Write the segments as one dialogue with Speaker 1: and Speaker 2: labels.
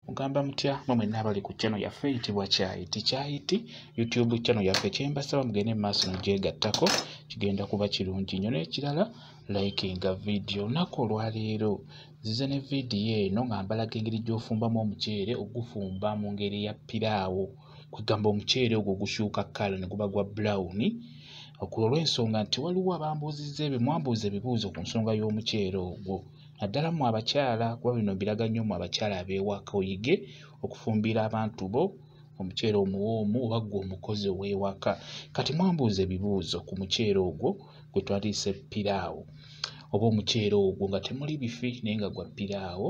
Speaker 1: mugamba mutya mwe mwenna abali ku channel yaffe eyitibwa kyayiti kyayiti youtube channel yaffe kyembasaba mugende mu maaso mugyegattako kigenda kuba kirungi nnyo n'ekirala likinga vidiyo olunaku olwaleero nzize ne vidiyo eno nga mbalaga engeri gy'ofumbamu omuceere ogufumba mu ngeri ya piraawo kwegamba omuceere ogwo gukyuka kala ne guba gwa brown okulwa olw'ensonga nti waliwo abambuuzizza ebyo mwambuuza ebibuuzo ku nsonga y'omuceere ogwo naddala mu abakyala kuba bino biraga nnyo mu abakyala abeewaka oyige okufumbira abantu bo omuceere omuwoomu oba ggwe omukozi ow'ewaka kati mwambuuza ebibuuzo ku muceere ogwo gwe twaliise piraawo oba omuceere ogwo nga temuli bifi naye nga gwa piraawo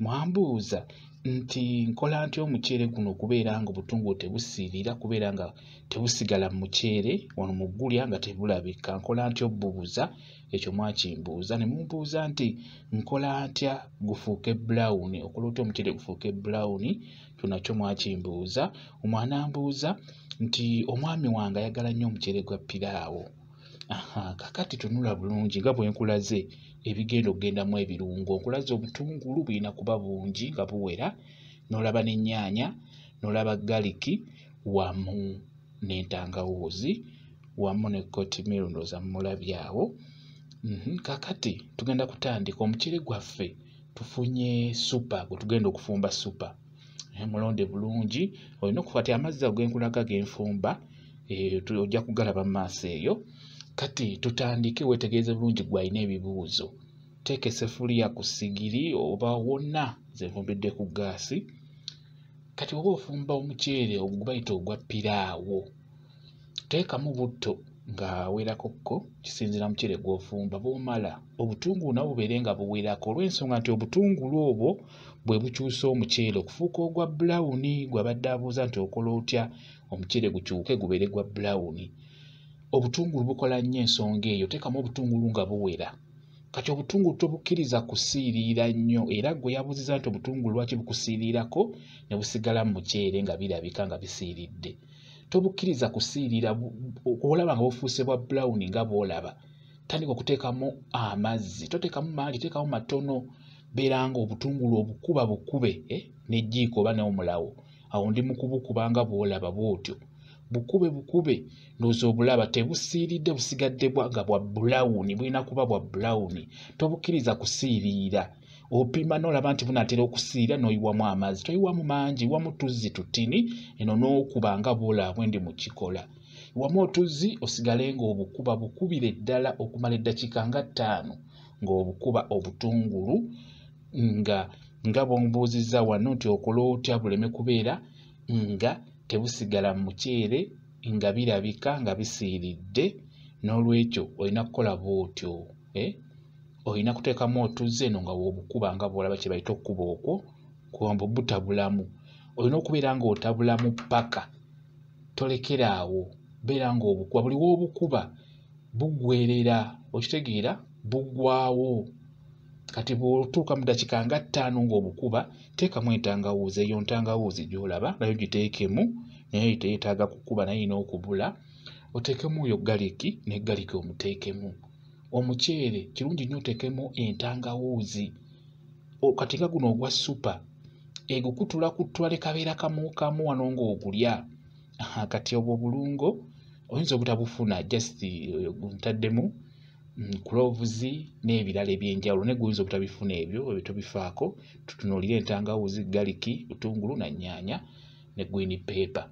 Speaker 1: mwambuuza nti nkola nti omuceere guno okubeera nga obutungulu tebusiirira kubeera nga tebusigala mu muceere wano mu ggulya nga tebulabika nkola nti obubuza ekyo mwakimbuuza ne mumbuuza nti nkola ntya gufuuke bulawuni okola otya omuceere gufuuke bulawuni kyo nakyo mwakimbuuza omwana mbuuza nti omwami wange ayagala nnyo omuceere gwa piraawo kakati tunula bulungi nga bwe nkulaze ebigenda okugendamu ebirungo nkulaze obutungulu bulina kuba bungi nga buwera n'olaba n'ennyaanya n'olaba galiki wamu n'entangawuuzi wamu ne kotimiro ndooza mulabye awo mhm, kakati tugenda kutandika omucere gwaffe tufunye supa gwe tugenda okufumba supa eh, mulonde bulungi olina okufa ti amazzi ago genkulaga genfumba eh, ojja kugalaba mu maaso eyo kati tutandike wetegeeze bulungi gwalina ebibuuzo teeka esefuliya ku sigiri oba wonna zenvumbidde ku gaasi kati oba ofumba omuceere ogwo bayita ogwa piraawo teekamu butto ng'awerako ko kisinziira muceere gw'ofumba bw'omala obutungulu nabwo bubeere nga buwerako olw'ensonga nti obutungulu obwo bwe bukyusa omuceere okufuuka ogwa bulawuni gwabadde abuuza nti okola otya omuceere gukyuke gubeere gwa bulawuni obutungulu bukola nnyo ensonga eyo teekamu obutungulu nga buwera kati obutungulu tobukkiriza kusiiriira nnyo era gwe yabuuziza nti obutungulu lwaki bukusiiriirako ne busigala mu muceere nga birabika nga bisiiridde tobukkiriza kusiiriira olaba nga bufuuse bwa bulawuni nga bwolaba tandika okuteekamu amazzi toteekamu maali teekamu matono beera nga obutungulu obukuba bukube eh, nejjiiko oba n'omulawo awo ndi mu kubukuba nga bwolaba bwotyo bukube bukube ndowooza obulaba tebusiiridde busigadde nga bwa bulawuni bulina kuba bwa bulawuni tobukkiriza kusiiriira opima n'olaba nti bunatera okusiira n'oyiwamu amazzi toyiwamu mangi wamu tuzzi tutini eno n'okuba nga bwolabwe ndi mu kikola wamu otuzzi osigale ng'obukuba bukubire ddala okumala eddakiika nga ttaano ng'obukuba obutungulu nga nga bwombuuzizza wano nti okola otya buleme kubeera nga tebusigala mu muceere nga birabika nga bisiiridde n'olwekyo olina kukola bw'otyo eh? olina kuteekamu otuzze eno nga wobukuba nga bwolaba kye bayita okukuba okwo kuwamba butabulamu olina okubeera ng'otabulamu ppaka tolekera awo beera ng'obukuba buli w'obukuba bugwerera okitegeera bugwawo kati bw'otuuka mu ddakiika nga ttaano ng'obukuba teekamu entangawuuzi eyo ntangawuuzi gy'olaba nayo giteekemu naye teyetaaga kukuba naye erina okubula oteekemu oyo galiki ne galiki omuteekemu omuceere kirungi nnyo oteekemu entangawuuzi kati nga guno ogwa supa egukutula kutula ne kabeera kamu kamu wano ng'ogulya kati obwo obulungo oyinza obutabufuna just eh, ntaddemu mm, kulovuzi n'ebirala ebyenjawulo naye guyinza obutabifuna ebyo ebyo tobifaako tutunuulire entangawuzi galiki butungulu na nyaanya ne gwini peepa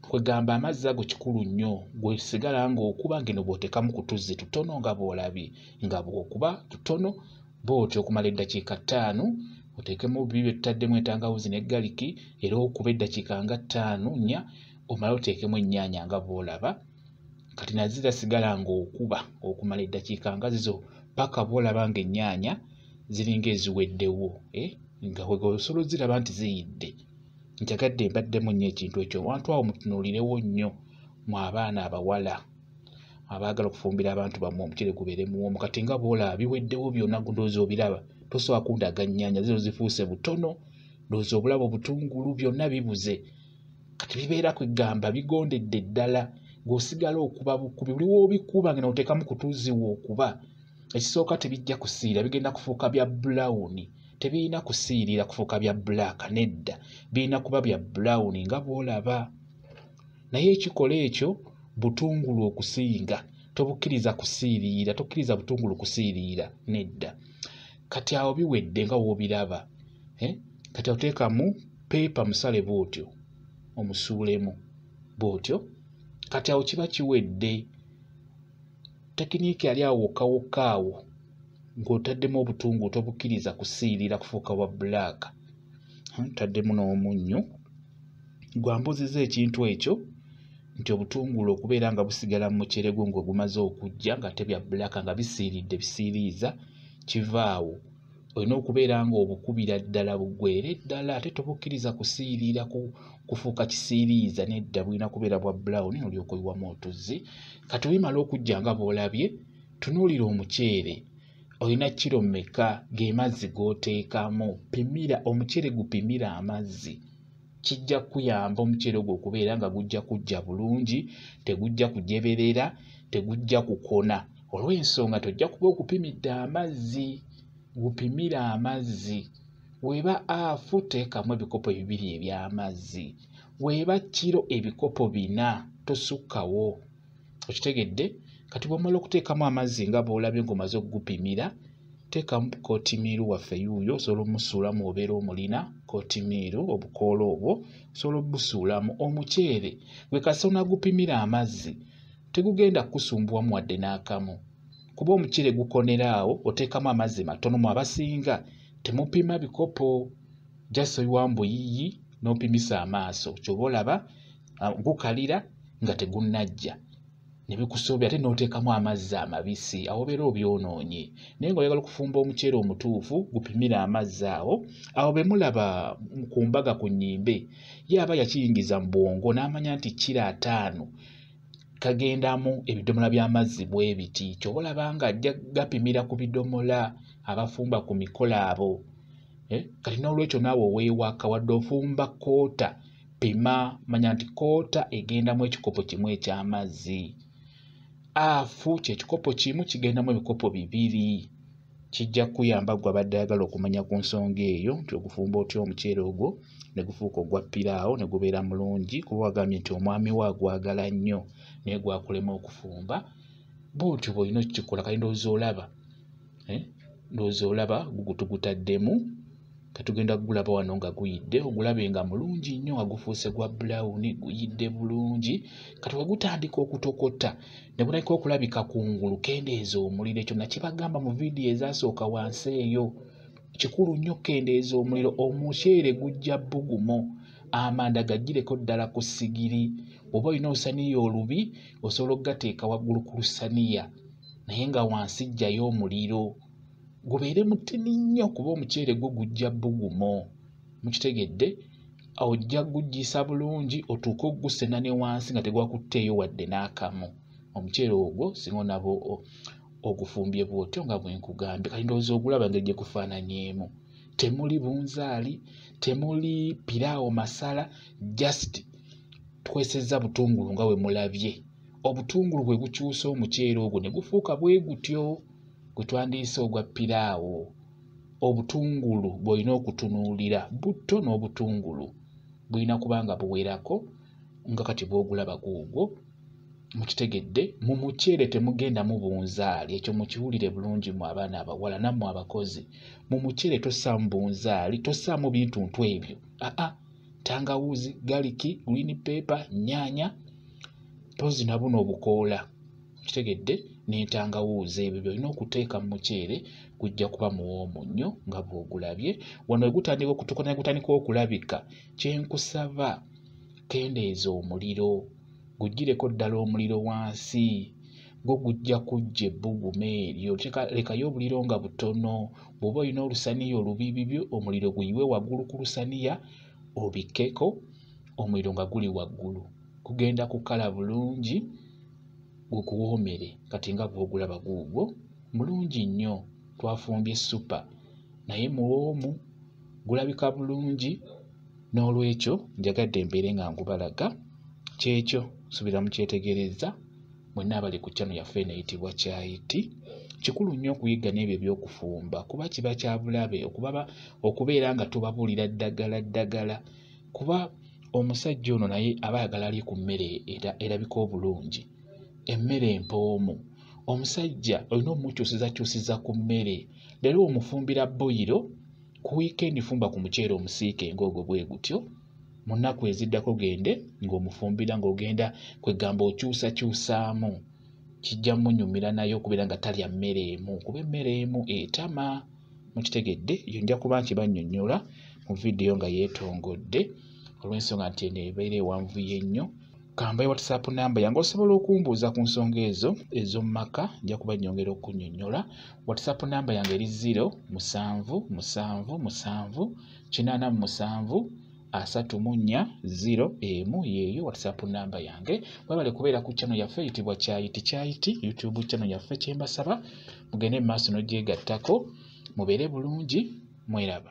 Speaker 1: kwegamba amazzi ago kikulu nnyo gwesigala ngaokuba ngeno bwotekamu kutuzzi tutono nga bwolabye nga bwokuba tutono booti okumala eddakiika ttaano oteekemu bibi byetutaddemu entangawuzi ne galiki era okuba eddakiika nga ttaano nnya omala oteekemu ennyaanya nga bwolaba kati nazo zasigala ng'okuba okumala eddakiika nga zizo paka bwolaba ng'ennyaanya ziringa eziweddewo eh? nga wega osobola oziraba nti ziyidde njagadde mbaddemu nnyo ekintu ekyo abantu awo mutunuulirewo nnyo mu abaana abawala abaagala okufumbira abantu bamwe omucere gubeere muwoomu kati nga bwolaba biweddewo byonna ndoozi obiraba tosobola kundaga nnyaanya zino zifuuse butono ndoozi obulaba obutungulu byonna bibuze kati bibeera kwegamba bigondedde ddala ng'osigala okuba bukubi buli woobikuba ngena oteekamu kutuuzi wookuba ekisooka tebijja kusiira bigenda kufuuka bya bulawuni tebirina kusiirira kufuuka bya bulaaka nedda birina kuba bya bulawuni nga bwolaba naye ekikola ekyo butungulu okusinga tobukkiriza kusiiriira tokkiriza butungulu kusiiriira nedda kati awo biwedde nga wobiraba eh? kati oteekamu peepa musale bwotyo omusuulemu bwotyo kati awo kiba kiwedde tekiniiki yali awo wokka wokka awo ng'otaddemu obutungu tobukkiriza kusiirira kufuuka bwa bulaaka hmm, taddemu n'omunnyo gwambuziza ekintu ekyo nti obutungulu okubeera nga busigala mu muceregwo ng'ogumaze okujja nga tebya bulaaka nga bisiiridde bisiiriiza kiva awo olina okubeera nga obukubira ddala bugwere ddala ate tobukkiriza kusiiriira kufuuka kisiiriiza nedda bulina kubeera bwa brown olyoka oyiwamu otuzzi kati bimala okujja nga bwolabye tunuulira omuceere olina kiro meka gemazzi goteekamu pimira omuceere gupimira amazzi kijja kuyamba omuceere ogwo okubeera nga gujja kujja bulungi tegujja kujeberera tegujja kukona olw'ensonga tojja kuba okupimidde amazzi gupimire amazzi weeba afu teekamu ebikopo bibiri eby'amazzi weeba kiro ebikopo bina tosukkawo okitegedde kati bwomala okuteekamu amazzi nga bwolabye ngaomaze okugupimira teekamu kotimiiru waffe yuuyo osobola omusuulamu obeera omulina kotimiiru obukoola obwo osobola obusuulamu omuceere gwe kasona gupimira amazzi tegugenda kukusumbuwamu wadde n'akamu kuba omuceere gukonera awo oteekamu amazzi matono mu abasinga temupima bikopo just oyiwa mbuyiyi n'opimisa amaaso kyoba olaba ah, gukalira nga tegunnajja ne bikusoobya ate n'oteekamu amazzi amabisi awo obeera obyonoonye naye nga oyagala okufumba omuceere omutuufu gupimire amazzi awo awo be mulaba ku mbaga ku nnyimbe ye aba yakiyingiza mu bwongo n'amanya nti kiro ataano kagendamu ebidomola by'amazzi bwe biti kyoba olaba nga ajja gapimira ku bidomola abafumba ku mikolo abo eh, kati n'olwekyo naawe oweewaka wadde ofumba koota pima manya nti koota egendamu ekikopo kimu eky'amazzi afu kyekikopo kimu kigendamu ebikopo bibiri kijja kukuyamba gwe abadde ayagala okumanya ku nsonga eyo nti ogufumba otya omuceere ogwo ne gufuuka ogwa piraawo ne gubeera mulungi kuba wagambye nti omwami we agwagala nnyo naye gwakulema okufumba bwotyo bwolina okukikola kali ndowooza olaba eh? ndowooza olaba gugutugutaddemu katugenda kugulaba wano nga guyidde ogulabe nga mulungi nnyo nga gufuuse gwa bulawuni guyidde bulungi kati wegutandika okutokota ne gutandika okulabika ku ngulu kendeeza omuliro ekyo nakibagamba mu vidiyo ezasooka wansi eyo kikulu nnyo kendeeza omuliro omuceere gujja bugumo amanda gajjireko ddala ku sigiri oba olina olusaniya olubi osobola okugateeka waggulu ku lusaniya naye nga wansi jjayo omuliro gubeere mutini nnyo kuba omuceere gwo gujja bugumo mukitegedde ojja gugisa bulungi otuuke okugusena ne wansi nga tegwakutteeyo wadde n'akamu omuceere ogwo singa onaba ogufumbye bwotyo nga bwenkugambye kati ndowooza ogulaba ngeri gye kufaananyeemu temuli bunzaali temuli piraawo masala just twesezza butungulu nga bwe mulabye obutungulu bwe bukyusa omuceere ogwo ne gufuuka bwe gutyo gwe twandiyise ogwa piraawo obutungulu bw'olina okutunuulira butto n'obutungulu bulina kuba nga buwerako nga kati bw'ogulaba guugwo mukitegedde mu muceere temugenda mubunzaali ekyo mukiwulire bulungi mu abaana abawala nammwe abakozi mu muceere tosaamu bunzaali tosaamu bintuntu ebyo aa tangawuuzi galiki green paper nyaanya tozi na buno obukoola kitegedde n'entangawuuzi ebyo byolina okuteeka mu muceere gujja kuba muwoomu nnyo nga bw'ogulabye wano wegutandika okutuuka naye gutandika okulabika kyenkusaba kendeeza omuliro gujjireko ddala omuliro wansi gwo gujja kujja ebbugumu eryo lekayo obuliro nga butono bw'oba olina olusaniya olubibibyo omuliro guyiwe waggulu ku lusaniya obikkeko omuliro nga guli waggulu gugenda kukala bulungi gukuwoomere kati nga bw'ogulaba guugwo mulungi nnyo twafumbye ssupa naye muwoomu gulabika bulungi n'olwekyo njagadde mbeere nga ngubalaga kyekyo subira mukyetegereza mwenna abali ku kyano yaffe eno eyitibwa kyayiti kikulu nnyo okuyiga n'ebyo ebyokufumba kuba kiba kyabulabe okubeera nga tubabuulira ddagala ddagala kuba omusajja ono naye aba ayagala alye ku mmere erabika obulungi emmere empoomu omusajja olina omukyusizakyusiza ku mmere leero omufumbira boyiro ku wiikendi fumba ku muceere omusiike ng'ogwo bwe gutyo mu nnaku eziddako gende ng'omufumbira ng'ogenda kwegamba okyusakyusaamu kijja munyumira naye okubeera nga talya mmere emu kuba emmere emu etama mukitegedde yo nja kuba nkibannyonnyola mu vidiyo nga yeetongodde olw'ensonga nti eno ebeera ewanvuye ennyo kambaye whatsapp namba yange osobola okumbuuza ku nsonga ezo ez'omu maka nja kuba nnyongera okunyonnyola whatsapp namba yange eri 0 musanvu musanvu musanvu kinaana mu musanvu asatu mu nnya 0 emu yeeyo whatsapp namba yange webale kubeera ku channel yaffe eyitibwa kyayiti kyayiti youtube channel yaffe kyembasaba mugende mu maaso n'ogyegattako mubeere bulungi mweraba